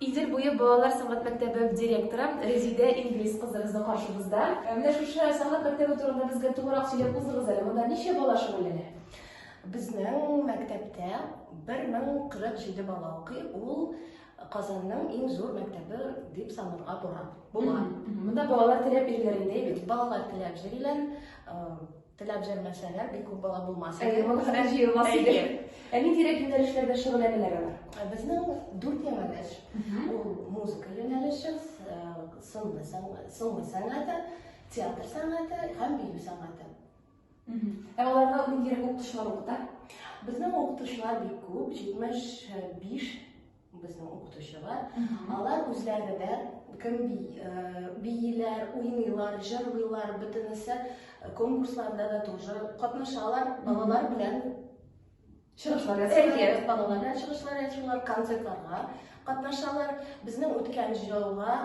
Идел буе балалар сәнгать мәктәбе директоры Резидә Ингрис кызы безнең каршыбызда. Ә менә шушы сәнгать мәктәбе турында безгә тулырак сөйләп узыгыз әле. Монда ничә бала шөгыльләнә? Безнең мәктәптә 1047 бала укый. Ул Казанның иң зур мәктәбе дип санарга була. Монда балалар теләп йөриләр инде, әйбәт. Балалар теләп йөриләр. Теләп җәлмәсәләр, бик күп бала булмас. Әйе, балалар җыелмас иде. Ә нинди юнәлешләрдә шөгыльләнәләр алар? Ә безнең дүрт юнәлеш. Ул музыка юнәлеше, э, сынлы сәнгате, театр сәнгате һәм бию сәнгате. Ә аларда нинди укытучылар укыта? Безнең укытучылар бик күп, 75 Безнең укытучылар, алар үзләре дә кем бииләр, уйныйлар, җырлыйлар, бөтенесе конкурсларда да тоже катнашалар, балалар белән чыгышлар ясыйлар, балалар белән чыгышлар ясыйлар, концертларга катнашалар. Безнең үткән җылга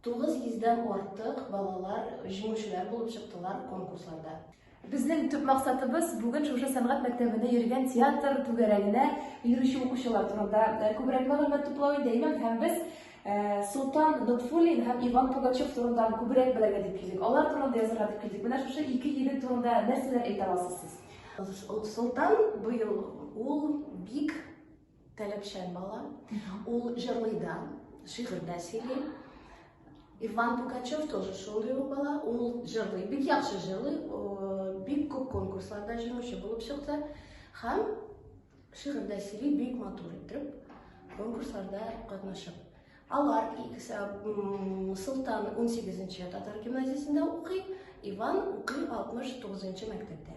тугыз йөздән артык балалар җиңүчеләр булып чыктылар конкурсларда. Безнең төп максатыбыз бүген шушы сәнгать мәктәбендә йөргән театр түгәрәгенә йөрүче укучылар турында э, күбрәк мәгълүмат туплау иде, имам, һәм без э, Солтан Нотфуллин һәм Иван Пугачев турында күбрәк белергә дип килдек. Алар турында язарга дип килдек. Менә шушы ике егет турында нәрсәләр әйтә аласыз сез? Солтан быел ул бик Таләпчән бала. Ул җырлый да, шигырь дә сөйли. Иван Пугачев тоже шундый ук бала. Ул җырлый, бик яхшы җырлый. Бик күп конкурсларда җиңүче булып чыкты. Һәм шигырь дә сөйли, бик матур итеп конкурсларда катнашып. Алар икесе Султан 18-нче татар гимназиясендә укый, Иван укый 69-нчы мәктәптә.